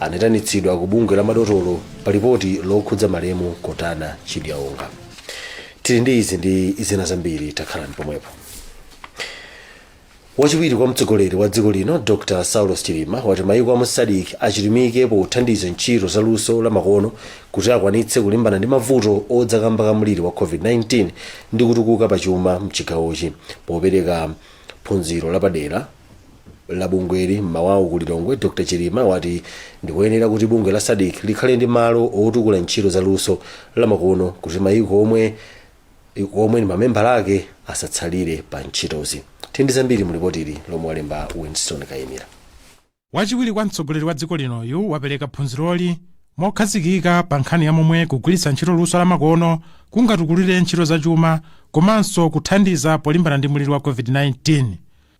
anayitanitsidwa ku bungwe la madotolo pa lipoti lokhudza malemu kotana chidyaonga tili ndi izi ndi zina zambiri takhalani pomwepo wachiwiri kwa mtsogoleri wa dziko lino dr saulos chilima wati mayiko a mu sadc achilimike pothandiza ntchito za luso la makono kuti akwanitse kulimbana ndi mavuto odza kamba ka mliri wa covid-19 ndi kutukuka pa chuma mchigawochi popereka phunziro lapadera la bungweli m'mawawu ku lilongwe dr chilima wati ndikoyenera kuti bungwe la sadc likhale ndi malo otukula ntchito za luso lamakono kuti mayiko omwe ndi mamembala ake asatsalire pa ntchitozi tindi zambiri mu lipotili lomwe walemba winston kayimira wachiwiri kwa mtsogoleri wa dziko linoyu wapereka phunziroli mokhazikika pa nkhani ya momwe kugwiritsa ntchito luso lamakono kungatukulire ntchito zachuma komanso kuthandiza polimbana ndi muliri wa covid-19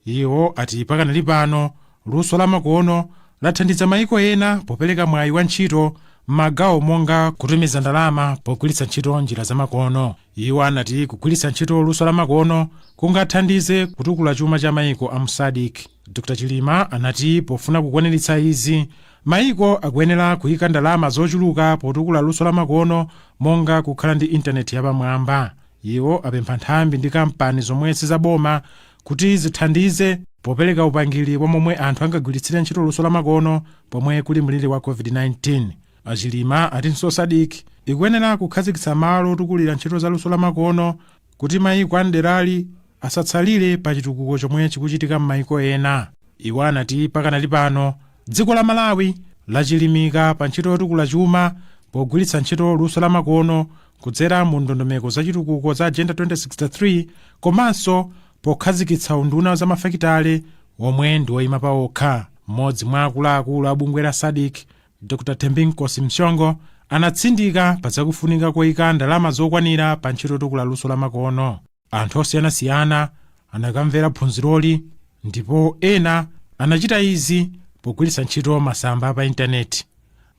Iwo ati pakanali pano luso la makono lathandiza maiko ena popeleka mwayi wa ntchito mmagawo monga kutumiza ndalama pogwilitsa ntchito njira za makono. Iwo anati kugwilitsa ntchito luso la makono kungathandize kutukula chuma cha maiko amu Sadc. Dr Chilima anati pofuna kukwanilitsa izi, maiko akuyenera kuika ndalama zochuluka potukula luso la makono monga kukhala ndi intaneti yapamwamba. Iwo apempha nthambi ndi kampani zomwe sizaboma kuti zithandize popereka upangiri wa momwe anthu angagwiritsire ntchito luso lamakono pomwe kuli mliri wa COVID-19. A Chilima atinso SADC ikuyenera kukhazikitsa malo otukulira ntchito za luso lamakono kuti mayiko a m'derali asatsalire pa chitukuko chomwe chikuchitika m'mayiko ena. Iwo anati pakanali pano Dziko la Malawi lachilimika pa ntchito yotukula chuma pogwiritsa ntchito luso la makono kudzera mu ndondomeko za chitukuko za Agenda 2063 komanso pokhazikitsa unduna wa zamafakitale omwe ndi oyima paokha. Mmodzi mwa akuluakulu a bungwe la Sadc, Dr Thembinkosi Mhlongo, anatsindika pa zakufunika koyika ndalama zokwanira pa ntchito yotukula luso la makono. Anthu osiyanasiyana anakamvera phunziroli ndipo ena anachita izi pogwiritsa ntchito masamba pa intaneti.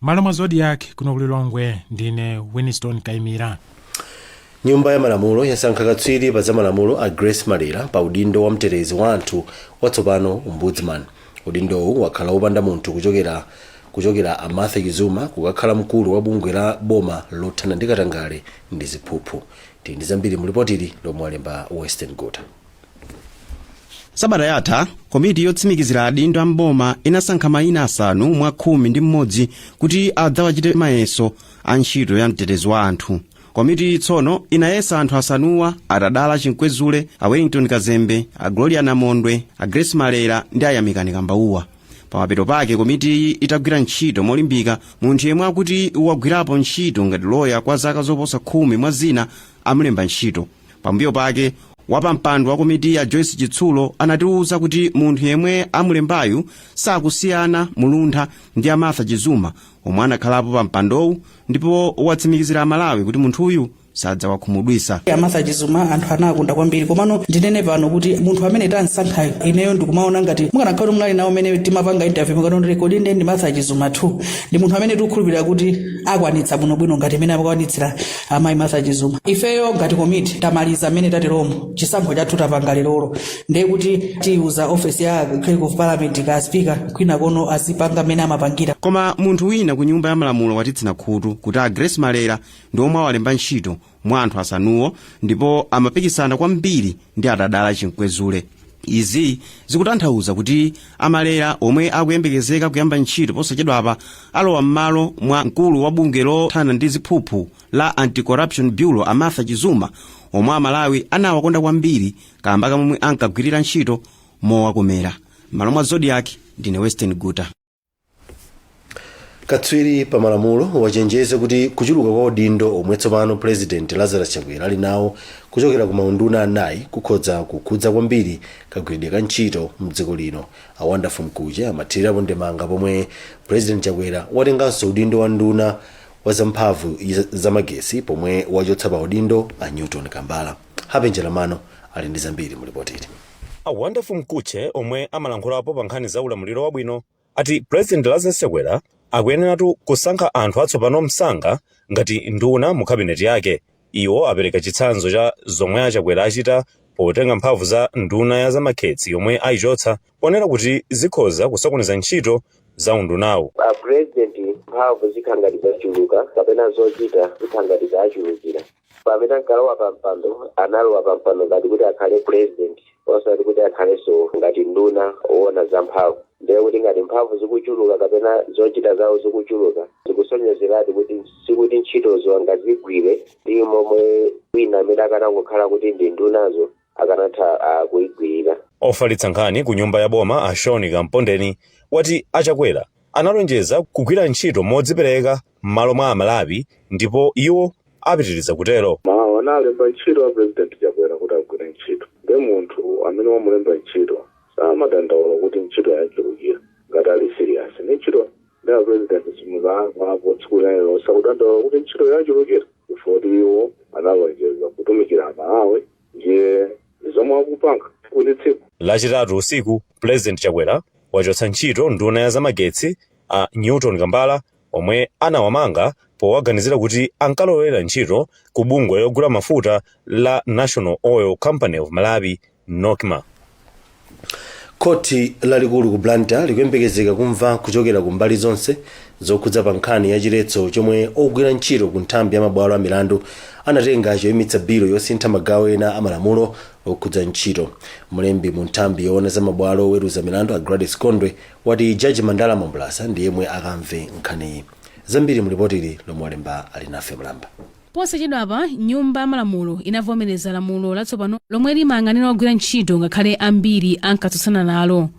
M'malo mwa Zodiak kuno ku Lilongwe ndine Winston Kaimira. Nyumba ya Malamulo yasankha katswiri pa zamalamulo a Grace Malera pa udindo wa mtetezi wa anthu watsopano, Ombudsman. Udindowu wakhala wopanda munthu kuchokera a Martha Chizuma kukakhala mkulu wa bungwe la boma lothana ndi katangale ndi ziphuphu. Tili ndi zambiri mu lipotili lomwe walemba Western Guta. sabata yatha komiti yotsimikizira adindo a mboma inasankha mayina asanu mwa khumi ndi mmodzi kuti adzawachite mayeso a ntchito ya mtetezi wa anthu komiti tsono inayesa anthu asanuwa a tadala chinkwezule a wellington kazembe a gloria namondwe a grace malera ndi a yamikani kambauwa pamapeto pake komitiyi itagwira ntchito molimbika munthu yemwe akuti wagwirapo ntchito ngati loya kwa zaka zoposa khumi mwa zina amulemba ntchito pambuyo pake wapampando wa komitiyi a joyce chitsulo anatiwuza kuti munthu yemwe amulembayu sakusiyana muluntha ndi a martha chizuma omwe anakhalapo pa mpandowu ndipo watsimikizira amalawi kuti munthuyu sadzawakhumudwitsa a martha chizuma anthu anawakonda kwambiri komano ndinene pano kuti munthu amene tamsankhayo ineyo ndikumuona ngati mukanakhala kuti munali nawo mmene timapanga interview mukanaona kuti kodi ndi martha chizuma 2 ndi munthu amene tikukhulupirira kuti akwanitsa bwinobwino ngati mmene akwanitsira amayi martha chizuma ifeyo ngati komiti tamaliza mmene tateromo chisankho chathu tapanga lerolo ndiye kuti tiuza ofesi ya clerk of parliament kwa speaker kwina konko azipanga mmene amapangira koma munthu wina ku nyumba ya malamulo watitsina khutu kuti a grace malera ndi omwe awalemba ntchito mwa anthu asanuwo ndipo amapikisana kwambiri ndi atadala chimkwezule izi zikutanthauza kuti a malera omwe akuyembekezeka kuyamba ntchito posachedwapa alowa m'malo mwa mkulu wa bungwe lothana ndi ziphuphu la anti-corruption bureau a martha chizuma omwe amalawi anawakonda kwambiri kamba kamomwe ankagwirira ntchito mowakomera m'malo mwa zodiak ndine western guta katswiri pa malamulo wachenjeza kuti kuchuluka kwa maudindo omwe tsopano purezidenti lazarus chakwera ali nawo kuchokera ku maunduna anayi kukhoza kukhudza kwambiri kagwiridwe ka ntchito mdziko lino a wonderful mkutche amathirirapo ndemanga pomwe purezidenti chakwera watenganso udindo wa nduna wa zamphamvu za magetsi pomwe wachotsa pa udindo a newton kambala happy njalam'mano ali ndi zambiri mu lipoti ili A Wonderful Mkutche omwe amalankhulapo pa nkhani za ulamuliro wabwino ati President Lazarus Chakwera akuyeneratu kusankha anthu atsopano msanga ngati nduna mu cabinet yake. Iwo apereka chitsanzo cha zomwe a Chakwera achita potenga mphamvu za nduna ya zamagetsi yomwe ayichotsa ponena kuti zikhoza kusokoneza ntchito za undunawu. A President mphamvu zikha ngati zachuluka kapena zochita zikha ngati zaachulukira. pamene ankalowa pa mpando analowa pa mpando ngati kuti akhale president osati kuti akhalenso ngati nduna owona za mphamvu ndiye kuti ngati mphamvu zikuchuluka kapena zochita zawo zikuchuluka zikusonyezeratu kuti sikuti ntchitozo angazigwire ndi momwe wina amene akanangokhala kuti ndi ndunazo akanatha ah, kuigwirira Ofalitsa nkhani ku nyumba ya boma a Shawn Kampondeni wati a Chakwera analonjeza kugwira ntchito modzipereka m'malo mwa Amalawi ndipo iwo apitiriza kutero. amalawi analemba ntchito a president chakwera kuti agwire ntchito nde munthu amene wamulemba ntchito samadandaula kuti ntchito yamuchulukira ngati ali serious ndi ntchito ndi a president simuzayankha apo tsiku lero sakudandaula kuti ntchito yachulukira ifoti iwo analonjeza kutumikira amalawi ndiye zomwe akupanga tsiku ndi tsiku Lachitatu usiku, Pulezidenti Chakwera wachotsa ntchito nduna ya zamagetsi a Newton Kambala omwe anawamanga powaganizira kuti ankalowerera ntchito ku bungwe logula mafuta la National Oil Company of Malawi, Nocma. Khoti lalikulu ku Blantyre likuyembekezeka kumva kuchokera ku mbali zonse zokhudzidwa pa nkhani ya chiletso chomwe ogwira ntchito ku nthambi ya mabwalo a milandu anatenga choyimitsa bilo yosintha magawo ena a malamulo okhudza ntchito. Mlembi mu nthambi yoona za mabwalo oweruza milandu a Gladys Gondwe wati Jaji Mandala Mambulasa ndi yemwe akamve nkhaniyi. Zambiri mu lipotili lomwe walemba Alinafe Mlamba. Posachedwapa, nyumba ya malamulo inavomereza lamulo latsopano lomwe limayang'anira ogwira ntchito ngakhale ambiri ankatsutsana nalo.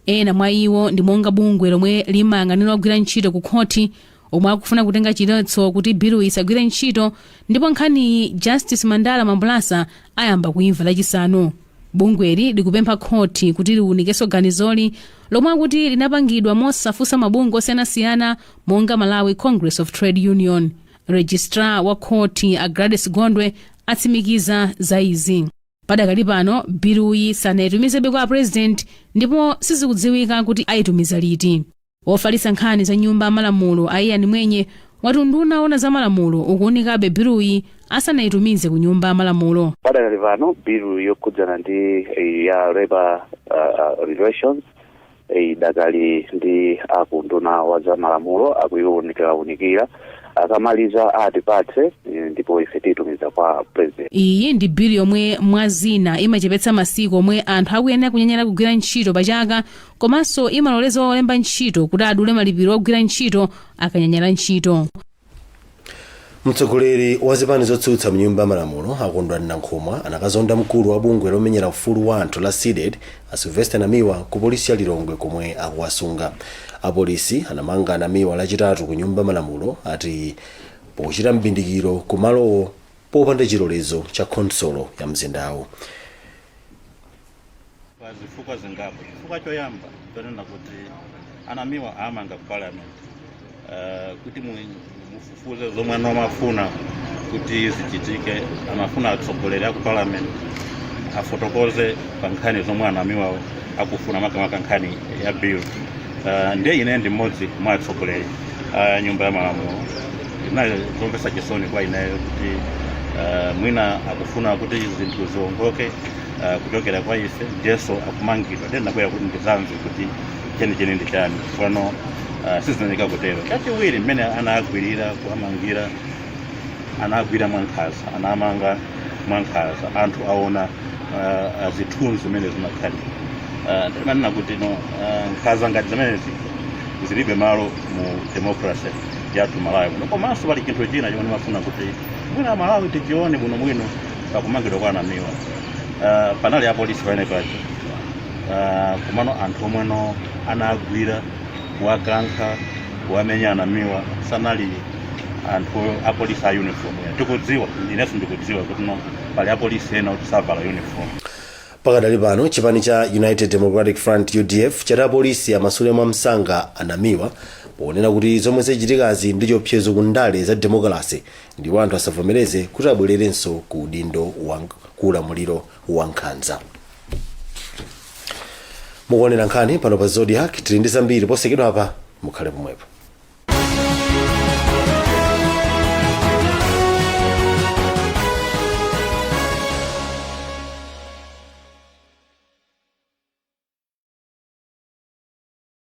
Ena mwa iwo ndi monga bungwe lomwe limayang'anira ogwira ntchito ku khoti omwe akufuna kutenga chiletso kuti biluyi isagwire ntchito ndipo nkhaniyi Justice Mandala Mambulasa ayamba kuimva Lachisanu. Bungweli likupempha khoti kuti liunikenso ganizoli lomwe akuti linapangidwa mosafunsa mabungwe osiyanasiyana monga Malawi Congress of Trade Union. registrar wa khoti a gladys gondwe atsimikiza za izi padakali pano biluyi sanayitumizebe kwa apurezidenti ndipo sizikudziwika kuti ayitumiza liti wofalitsa nkhani za nyumba ya malamulo a ian mwenye wati unduna wa za malamulo ukuunikabe biluyi asanayitumize ku nyumba yamalamulo padakali pano bilu yokhudzana ndi eh, ya labor uh, uh, relations Idakali ndi a ku unduna wa za malamulo akuiunikaunika akamaliza atipatse ndipo ife tiyitumiza kwa president. Iyi ndi bill yomwe mwazina imachepetsa masiku omwe anthu akuyenera kunyanyala kugwira ntchito pa chaka komanso imaloleza olemba ntchito kuti adule malipiro ogwira ntchito akanyanyala ntchito. mtsogoleri wa zipani zotsutsa mnyumba malamulo a kondwani nankhumwa anakazonda mkulu wa bungwe lomenyera ufulu wa anthu la cdedi a sylvester namiwa ku polisi ya lilongwe komwe akuwasunga apolisi anamanga namiwa lachitatu ku nyumba malamulo ati pochita mbindikiro ku malowo popanda chilolezo cha khonsolo ya mzindawo pa zifukwa zingapo chifukwa choyamba chonena kuti a namiwa awamanga ku parliament uh, kuti mu- mufufuze zomwe ana amafuna kuti zichitike amafuna atsogoleri aku parliament afotokoze pa nkhani zomwe a namiwawo akufuna makamaka nkhani ya bill uh, ndiye ine ndi mmodzi mwa atsogoleri a nyumba ya malamulo inali zomvetsa chisoni kwa ineyo kuti uh, mwina akufuna kuti zinthu ziwongoke uh, kuchokera kwa ife ndiyenso akumangidwa ndiye ndinabwera kuti ndizamve kuti chenicheni ndi chani tsopano uh, sizinaoneka kutero chachiwiri mmene anagwirira kuamangira anagwira mwankhanza anamanga mwankhanza anthu aona uh, uh, zithunzi zimene zimakhalira uh, ndimanena kuti no uh, nkhanza ngati zimenezi zilibe malo mu democracy yathu malawi muno komanso pali chinthu china chimene ndimafuna kuti mwina malawi tichione bwinobwino pakumangidwa kwa anamiwa uh, panali apolisi pamene paja uh, komano anthu omweno anagwira kuwakankha kuwamenya anamiwa sanali anthu apolisi a uniform tikudziwa inenso ndikudziwa kuti no pali apolisi ena kuti savala uniform pakadali pano chipani cha united democratic front udf chati apolisi amasule mwa msanga anamiwa ponena kuti zomwe zachitikazi ndi chiopsezo ku ndale za demokalase ndipo anthu asavomereze kuti abwererenso ku udindo wa ku ulamuliro wa nkhanza mukuonera nkhani pano pa zodiac tili ndi zambiri posachedwa apa mukhale pomwepo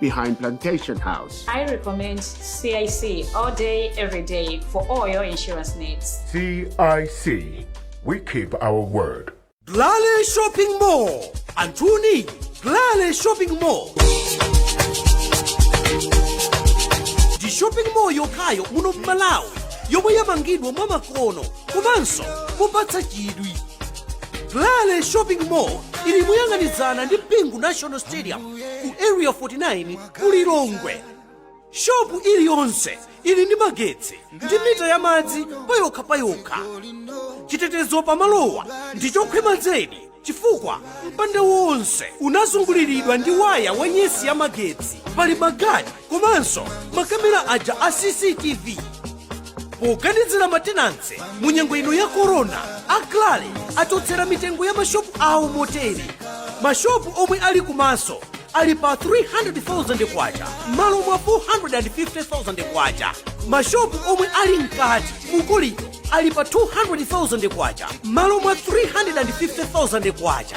behind Plantation House. I recommend CIC all day, every day for all your insurance needs. CIC, we keep our word. Glale Shopping Mall. Anthuni, Glale Shopping Mall. Ndi shopping mall yokhayo muno m'Malawi yomwe yamangidwa mwamakono komanso mopatsa chidwi. Glale Shopping Mall ili moyang'anizana ndi Bingu National Stadium ku area 49 ku lilongwe shopu iliyonse ili ndi magetsi ndi mita ya madzi payokha payokha chitetezo pamalowa ndi chokhwima zedi chifukwa mpanda wonse unazunguliridwa ndi waya wa nyetsi ya magetsi pali magadi komanso makamera aja a cctv poganizira matenanse mu nyengo ino ya korona a glale achotsera mitengo ya mashopu awo motere mashopu omwe ali kumaso ali pa 300,000 kwacha m'malo mwa 450,000 kwacha mashopu omwe ali mkati mukolido ali pa 200,000 kwacha m'malo mwa 350,000 kwacha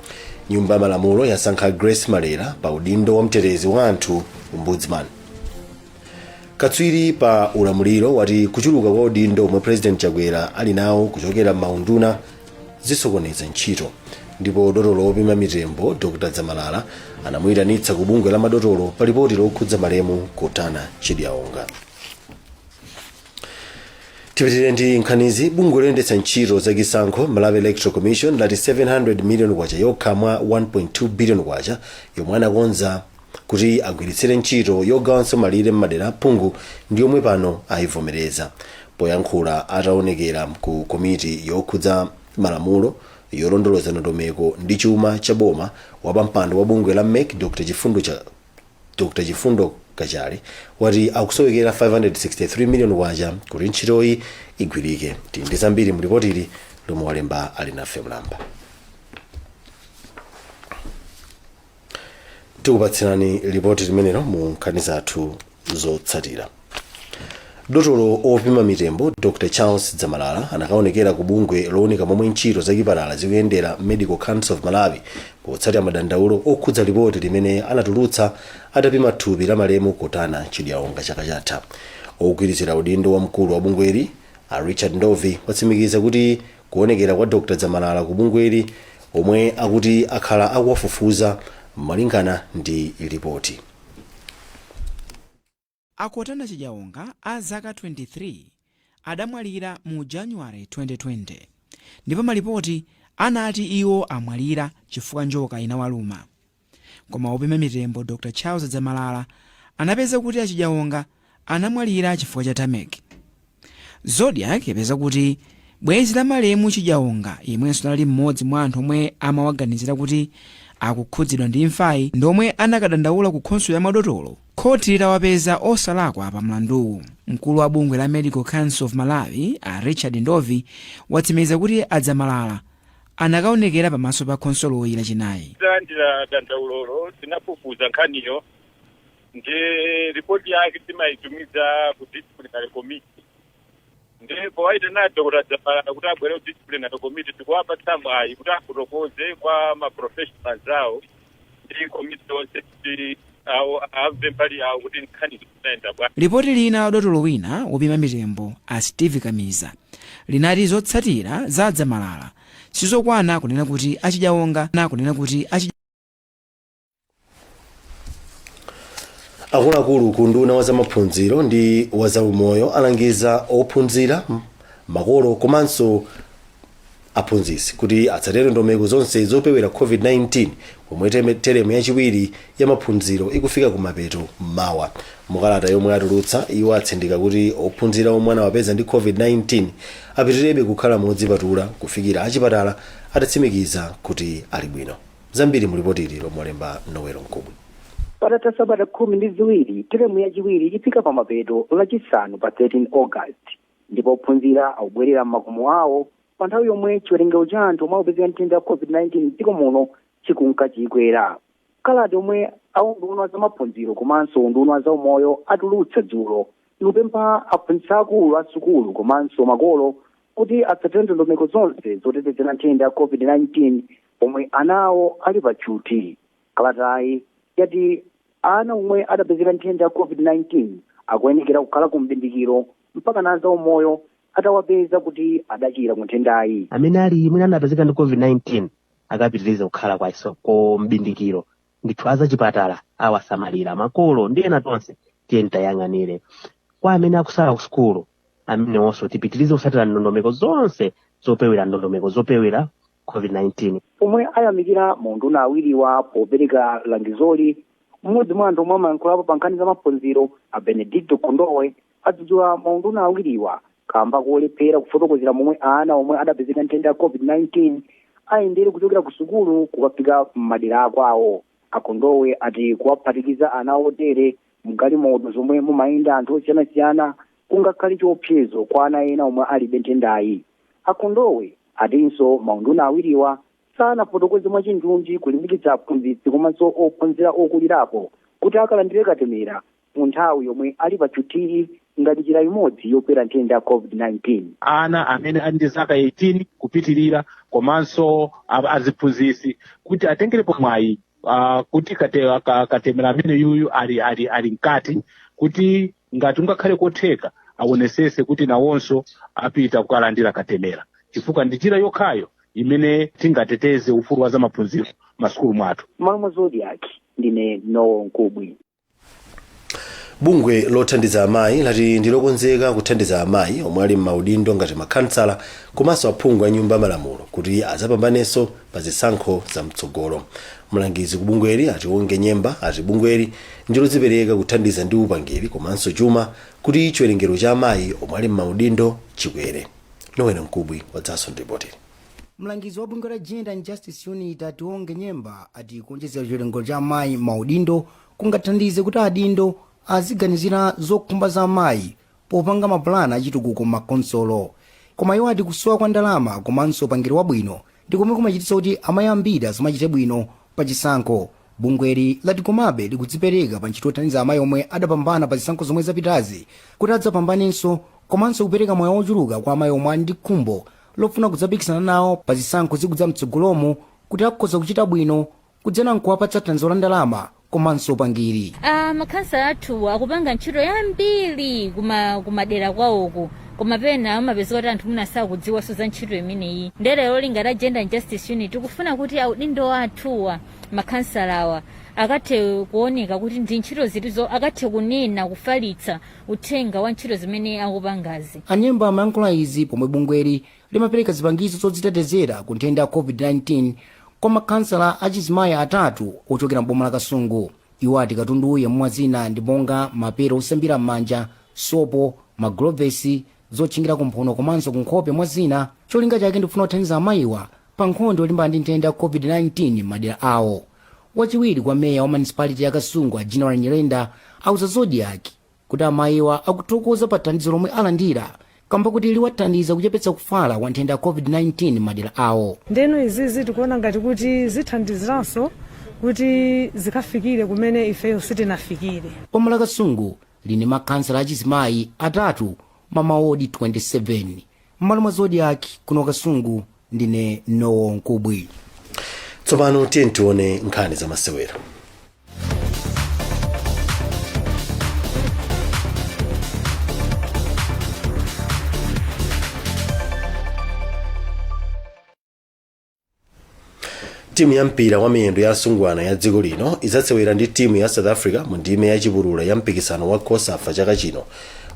nyumba ya malamulo yasankha grace malera pa udindo wa mtetezi wa anthu ombudsman katswiri pa ulamuliro wati kuchuluka kwa udindo omwe president chakwera ali nawo kuchokera m'maunduna zisokoneza ntchito ndipo dotolo wopima mitembo dr dzamalala anamuyitanitsa ku bungwe la madotolo pa lipoti lokhudza malemu kottana chidyaonga tipitirire ndi nkhanizi bungwe loyendetsa ntchito za chisankho malawi electoral commission lati 700 million kwacha yokha mwa 1.2 billion kwacha yomwe anakonza kuti agwiritsire ntchito yogawanso malire m'madera a phungu ndi yomwe pano ayivomereza poyankhula ataonekera ku komiti yokhudza malamulo yolondoloza ndondomeko ndi chuma cha boma wapampando wa bungwe la mec dr chifundo cha Dr Chifundo Kachale wati akusowekera K563 million kuti ntchitoyi igwirike. Tili ndi zambiri mu lipotili lomwe walemba Alinafe Mlamba. Tikupatsirani lipoti limenelo mu nkhani zathu zotsatira. dotolo opima mitembo dr charles dzamalala anakaonekera ku bungwe lowunika momwe ntchito zachipatala zikuyendera medical council of malawi potsatira madandaulo okhudza lipoti limene anatulutsa atapima thupi la malemu kotana chidyaonga chaka chatha wogwirizira udindo wa mkulu wa bungweli a richard ndovi watsimikiza kuti kuonekera kwa dr dzamalala ku bungweli omwe akuti akhala akuwafufuza malingana ndi lipoti A Kotana Chidyaonga a zaka 23 adamwalira mu January 2020 ndipo malipoti anati iwo amwalira chifukwa njoka inawaluma. Koma wopima mitembo Dr Charles Dzamalala anapeza kuti a Chidyaonga anamwalira chifukwa cha tameki. Zodiak yapeza kuti bwenzi la malemu Chidyaonga, yemwenso anali mmodzi mwa anthu omwe amawaganizira kuti akukhudzidwa ndi imfayi, ndi omwe anakadandaula ku khonsolo ya madotolo khoti litawapeza osalakwa pa mlanduwu. Mkulu wa bungwe la Medical Council of Malawi, a Richard Ndovi, watsimikiza kuti a Dzamalala anakaonekera pamaso pa khonsoloyi Lachinayi. Titalandira dandaulolo, tinafufuza nkhaniyo nde ripoti yake timaitumiza ku disciplinary committee nde powaitana adokotala dzamalala kuti abwere ku disciplinary committee tikuwapatsa mwayi kuti afotokoze kwa maprofessionals awo ndi komiti yonse kuti iwo amve mbali yawo kuti nkhani zinaenda bwa lipoti lina la dotolo wina wopima mitembo a steve kamiza linati zotsatira za a dzamalala sizokwana kunena kuti achidyaonga na kunena kuti achidya akuluakulu ku unduna wa zamaphunziro ndi wa zaumoyo alangiza ophunzira makolo komanso aphunzitsi kuti atsatire ndondomeko zonse zopewera covid-19 pomwe teme- teremu yachiwiri ya maphunziro ikufika kumapeto mawa mukalata yomwe atulutsa iwo atsindika kuti ophunzira omwe anawapeza ndi covid-19 apitirebe kukhala modzipatula kufikira achipatala atatsimikiza kuti ali bwino Zambiri mu lipoti ili lomwe walemba Noel Mkubwi. patatha sabata khumi ndi ziwiri teremu yachiwiri ifika pa mapeto lachisanu pa 13 august ndipo ophunzira akubwerera m'makomo awo pa nthawi yomwe chiwerengero cha anthu omwe akupezeka nthenda ya covid-19 mdziko muno chikunka chikwera kalata yomwe aunduna wa zamaphunziro komanso unduna wa zaumoyo atulutsa dzulo ikupempha aphunzitsi akulu a sukulu komanso makolo kuti atsatire ndondomeko zonse zotetezera nthenda ya covid-19 pomwe ana awo ali pa tchuthi. Kalatayi yati ana omwe adapezeka nthenda ya COVID-19 akuyenekera kukhala ku m'bindikiro mpaka a zaumoyo atawapeza kuti adachira ku nthendayi. amene ali mwina anapezeka ndi covid-19 akapitirize kukhala kwa iso ku mbindikiro ndithu azachipatala awasamalira makolo ndi ena tonse tiyeni tiwayang'anire kwa amene akusala ku sukulu amenewonso tipitirize kusatira ndondomeko zonse zopewera ndondomeko zopewera covid-19 pomwe ayamikira maunduna awiriwa popereka langizoli mmodzi mwa anthu omwe amayankhulapo pa nkhani za maphunziro a benedicto kondowe adzudzula maunduna awiriwa kamba kolephera kufotokozera momwe ana omwe adapezeka nthenda ya covid-19 ayendere kuchokera ku sukulu kukafika m'madera akwawo akondowe ati kuwaphatikiza ana otere mgalimoto zomwe mumayenda anthu osiyanasiyana kungakhale chiopsezo kwa ana ena omwe alibe nthendayi A Kondowe atinso maunduna awiriwa sanafotokoze mwachindunji kulimbikitsa aphunzitsi komanso ophunzira okulirapo kuti akalandire katemera mu nthawi yomwe ali pa tchuthiyi ngati njira imodzi yopewera nthenda ya COVID-19. ana amene ali ndi zaka 18 kupitirira komanso a- aziphunzitsi kuti atengerepo mwayi uh, kuti kate, ka, katemera amene yuyu ali, ali, ali mkati kuti ngati kungakhale kotheka awonesese kuti nawonso apita kukalandira katemera chifukwa ndi njira yokhayo imene tingateteze ufulu wa zamaphunziro masukulu mwathu m'malo mwa zodiac ndine Noel Mkubwi bungwe lothandiza amayi lati ndilokonzeka kuthandiza amayi omwe ali m'maudindo ngati makhansala komanso aphungu a nyumba ya malamulo kuti adzapambanenso pa zisankho za mtsogolo. Mlangizi ku bungweli a Tionge Nyemba ati bungweli ndi lodzipereka kuthandiza ndi upangiri komanso chuma kuti chiwerengero cha amayi omwe ali m'maudindo chikwere. Noel Mkubwi wadzanso ndi ripotili. Mlangizi wa bungwe la Gender and Justice Unit a Tionge Nyemba ati kuonjezera chiwerengero cha amayi m'maudindo kungathandize kuti adindo aziganizira zokhumba za amayi popanga mapulani achitukuko m'makhonsolo. Koma iwo ati kusowa kwa ndalama komanso upangiri wabwino ndi komwe kumachititsa kuti amayi ambiri asamachite bwino pa chisankho. Bungweli lati komabe likudzipereka pa ntchito yothandiza amayi omwe adapambana pa zisankho zomwe zapitazi kuti adzapambanenso komanso kupereka mwayi wochuluka kwa amayi omwe ali ndi khumbo lofuna kudzapikisana nawo pa zisankho zikudza mtsogolomu kuti akhoza kuchita bwino kudzera nkuwapatsa thandizo la ndalama komanso upangiri Ah, makhansala athuwa akupanga ntchito yambiri kuma kumadera kwawoko koma pena amapezeka kuti anthu mwina sakudziwanso za ntchito imeneyi ndiye cholinga cha gender and justice unit tikufuna kuti audindo athuwa makhansalawa akathe kuoneka kuti ndi ntchito zitizo akathe kunena kufalitsa uthenga wa ntchito zimene akupangazi anyemba amayankhula izi pomwe bungweli limapereka zipangizo zodzitetezera ku nthenda ya covid-19 kwa makhansala achizimayi atatu ochokera m'boma la kasungu iwo ati katundu yemwe mwazina ndi monga mapelo osambira m'manja sopo magulovesi zotchingira kumphuno komanso kunkhope mwa zina cholinga chake ndikufuna kuthandiza amayiwa pa nkhondo yolimbana ndi nthenda ya covid-19 m'madera awo wachiwiri kwa meya wa municipality ya kasungu a general nyirenda auza zodiak kuti amayiwa akuthokoza pa thandizo lomwe alandira kamba kuti liwathandiza kuchepetsa kufala kwa nthenda ya covid-19 m'madera awo ndeno izizi tikuona ngati kuti zithandiziranso kuti zikafikire kumene ifeyo sitinafikire boma la kasungu lili ndi makhansala achizimayi atatu m'mawodi 27 m'malo mwa zodiak kuno kasungu ndine noel mkubwi tsopano tiyeni tione nkhani za masewera timu ya mpira wa miyendo ya asungwana ya dziko lino idzasewera ndi timu ya south africa mu ndime ya chipulula ya mpikisano wa cosafa chaka chino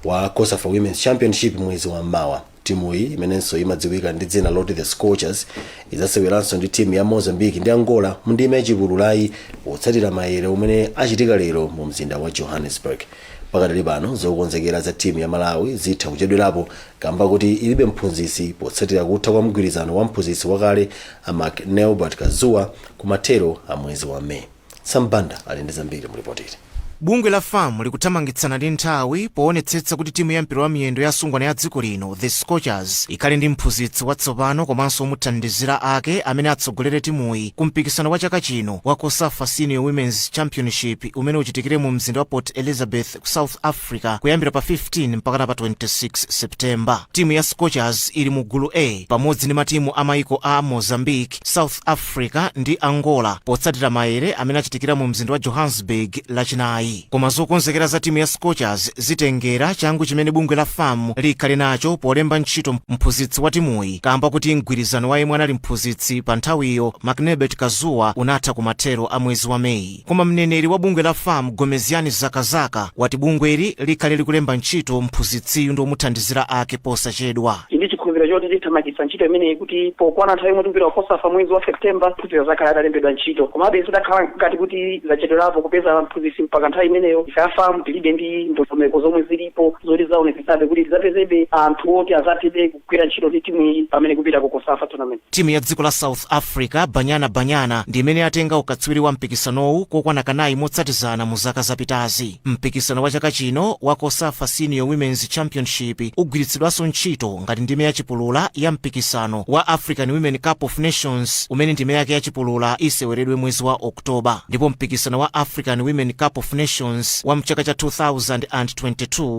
wa cosafa women's championship mwezi wa mmawa timuyi imenenso imadziwika ndi dzina loti the scorchers idzaseweranso ndi timu ya mozambique ndi angola mu ndime ya chipululayi potsatira mayere amene achitika lero mu mzinda wa johannesburg pakadali pano zokonzekera za timu ya malawi zitha kuchedwerapo kamba kuti ilibe mphunzitsi potsatira kutha kwa mgwirizano wa mphunzitsi wakale a mcnelbert kazuwa ku mathero a mwezi wa may sam banda ali ndi zambiri mu lipoti bungwe la fam likuthamangitsana ndi nthawi poonetsetsa kuti timu ya mpira wa miyendo ya asungwana ya dziko lino the scorchers ikhale ndi mphunzitsi watsopano komanso omuthandizira ake amene atsogolere timuyi ku mpikisano wa chaka chino wa cosafa senior women's championship umene uchitikire mu mzinda wa port elizabeth ku south africa kuyambira pa 15 mpakana pa 26 septemba timu ya scorchers ili mu gulu a pamodzi ndi matimu a maiko a mozambique south africa ndi angola potsatira maere amene achitikira mu mzinda wa johannesburg lachinayi koma zokonzekera za timu ya scorchers zitengera changu chimene bungwe la fam likhale nacho polemba ntchito mphunzitsi wa timuyi kamba kuti mgwirizano wa yemwe anali mphunzitsi pa nthawiyo mcnelbert kazuwa unatha kumathero a mwezi wa meyi Koma mneneri wa bungwe la fam Gomezgani Zakazaka wati bungweli likhale likulemba ntchito mphunzitsiyu ndi omuthandizira ake posachedwa. Tili ndi chikhulupiriro choti tithamangitsa ntchito imeneyi kuti pokwana nthawi yomwe tikupita ku Cosafa mwezi wa September mphunzitsiyo azakhale atalembedwa ntchito. Komabe zidakhala ngati kuti zachedwerapo kupeza mphunzitsi mpaka nthawi imeneyo, ife a fam tilibe ndondomeko zomwe zilipo zoti zidzaonetsetsabe kuti tidzapezebe anthu oti adzathebe kugwira ntchito ndi timu iyi pamene ikupita ku Cosafa tournament. Timu ya dziko la South Africa, Banyana Banyana, ndi imene yatenga ukatswiri wa mpikisanowu kokwana kanayi motsatizana mu zaka zapitazi. Mpikisano wa chaka chino wa Cosafa Senior Women's Championship ugwiritsidwanso ntchito ngati ndime ya chipulula ya mpikisano wa African Women Cup of Nations umene ndime yake ya chipulula iseweredwe mwezi wa Oktoba, ndipo mpikisano wa African Women Cup of Nations wa mchaka cha 2022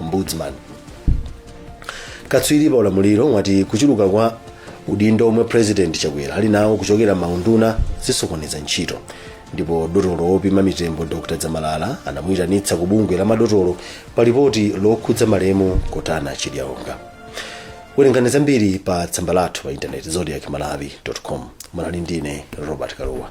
ombudsman katswiri pa ulamuliro wati kuchuluka kwa udindo omwe president chakwera ali nawo kuchokera maunduna zisokoneza ntchito ndipo dotolo wopima mitembo dr dzamalala anamuyitanitsa ku bungwe la madotolo pa lipoti lokhudza malemu kotana chidyaonga werengani zambiri pa tsamba lathu pa intaneti zodiak malawi com munali ndine robert kalua